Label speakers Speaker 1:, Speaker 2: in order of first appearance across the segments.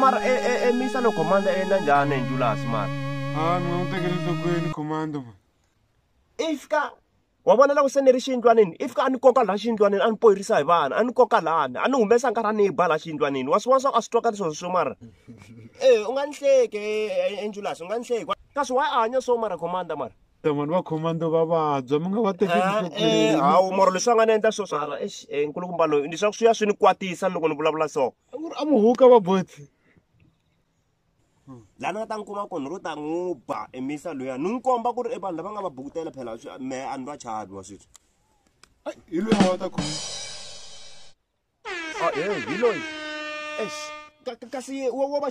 Speaker 1: mara e, e, e misa no komanda yena njhani hi njulasi mara a mi nga n'wi tekeli
Speaker 2: nhlokweni komanda ma i fika
Speaker 1: wa vona loko se ni ri xiyindlwanini i fika a ni koka laha xiyindlwanini a ni poyirisa hi vana a ni koka lahani a ni humesa nkarhi a ni yi ba laha xiyindlwanini wa swin'wana swa ku a swi twakali sweswo swo mara e u nga ni hleki enjulasi u nga ni hleki kasi wa a hanya swo mara commander mara tamani va commander
Speaker 2: va vabya mi nga va tekelihawu moro leswi va nga ni
Speaker 1: endla swo swala nkulukumba loyi ni swa ku swi ya swi ni kwatisa loko ni vulavula so a mu huka va
Speaker 2: botsi
Speaker 1: lani nga ta n'wi kuma kona ro ta n'wi ba emisa loya ni n'wi komba ku ri e vanhu lava nga va bukutela phela me a ni va chavi wa sweswi hi
Speaker 2: loyi a va ta khoma
Speaker 1: ah, hi loyi kasi wa va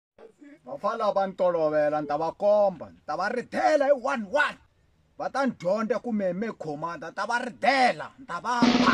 Speaker 3: vafana
Speaker 4: va ni tolovela ni ta va komba ni ta va ridela hi one one va ta ni dyondza ku me me commanda ni ta va ridela ni ta va ba